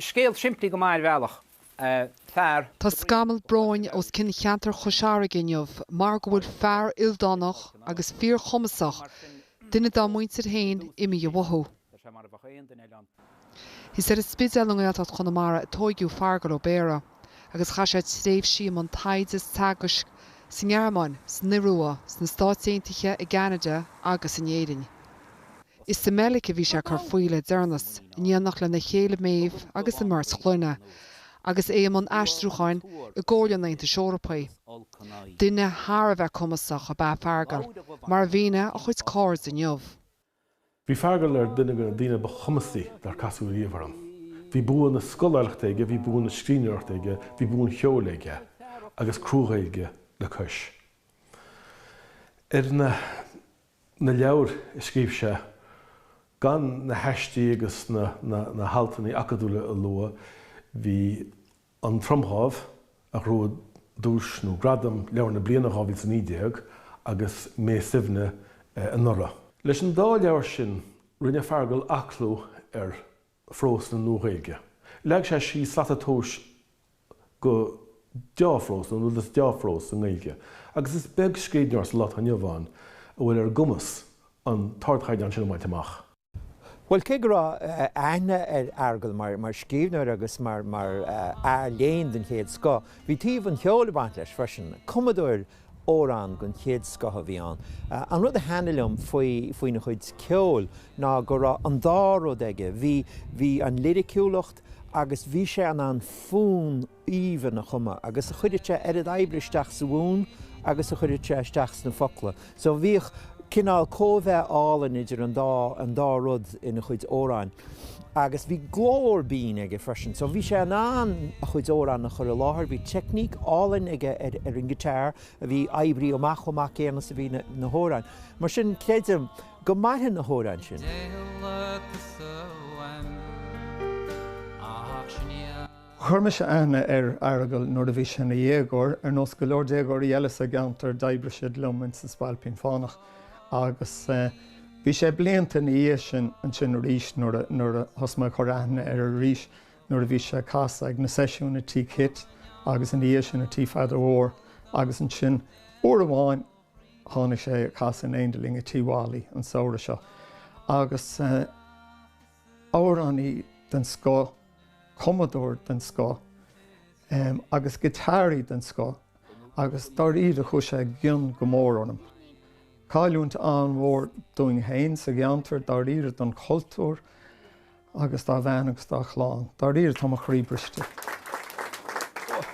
Scéal simplí go maith ar bhealach. Fear. Tá scamall bróin os cionn cheantar Chois Fharraige inniu mar go bhfuil fear ildánach agus fíorchumasach, duine dá muintir féin, imithe uathu. Is ar an Spidéal i nGaeltacht Chonamara a tóigeadh Feargal Ó Béarra agus chaith sé tréimhsí i mbun taighde is teagaisc sa nGearmáin, san Iorua, sna Stáit Aontaithe, i gCeanada agus in Éirinn. Is sa mBeilic a bhí sé ag cur faoi le deireanas, in éineacht lena chéile Maeve agus a mbeirt chlainne, agus é i mbun aistriúcháin i gComhairle an Aontais Eorpaigh. Duine thar a bheith cumasach ab ea Feargal, mar a mhínigh a chuid cairde inniu. Bhí Feargal ar dhuine de na daoine ba chumasaí dár casadh riamh orm. Bhí bua na scoláireachta aige, bhí bua na scríbhneoireachta aige, bhí bua an cheoil aige, agus crua-Ghaeilge le cois. Ar na. na leabhair a scríobh sé, gan na haistí agus na haltannaí acadúla a lua, bhí An Tromdhámh, a ghnóthaigh duais nó gradam Leabhar na Bliana 2019 agus Mé Suibhne anuraidh. Leis an dá leabhar sin, rinne Feargal aclú ar phrós na Nua-Ghaeilge. Leag sé síos slata tomhais do dhea-phrós, nó an rud is dea-phrós i nGaeilge, agus is beag scríbhneoir sa lá atá inniu ann a bhfuil ar a gcumas an t-ardchaighdeán sin a bhaint amach. Bhuel, cé go raibh aithne ar Fheargal mar scríbhneoir agus mar fhear léinn den chéad scoth, bhí taobh an cheoil ag baint leis freisin. Cumadóir Amhrán den chéad scoth a bhí ann. An rud a thaitnigh liom faoina chuid ceoil ná go raibh an dá rud aige, bhí an liriciúlacht agus bhí sé in ann fonn aoibhinn a chumadh agus chuireadh sé oiread oibre isteach sa bhfonn agus a chuireadh sé isteach sna focla. So bhíodh cineál cóimheá álainn idir an dá, an dá rud ina chuid amhráin. Agus bhí glór binn aige freisin. So bhí sé in ann a chuid amhrán a chur i láthair, bhí teicníc álainn aige ar, ar an guitar a bhí oibrithe amach chomh maith céanna is a bhí na, na hamhráin. Mar sin creidim go mairfidh na hamhráin sin. Deighilt is uaim ach sinn. Chuir mise aithne ar Fheargal nuair a bhí sé ina dhéagóir. Ar nós go leor déagóirí eile sa gceantar d'oibrigh siad liom ins An Spailpín Fánach agus bhí sé blianta ina dhiaidh sin ansin arís nuair a thosaigh mé ag cur aithne air arís nuair a bhí sé ag casadh ag na seisiúin i Tigh Kitt agus ina dhiaidh sin i Tigh Pheadair Mhóir agus ansin uair amháin tháinig sé ag casadh in éindí linn i Tigh Mholly an samhradh seo agus amhránaí den scoth, cumadóir den scoth agus giotáraí den scoth agus dáiríre chuaigh sé i gcion go mór orm. Cailliúint an-mhór dúinn féin sa gceantar, dáiríre don chultúr agus dá bhean agus dá chlann. Dáiríre tá mo chroí briste.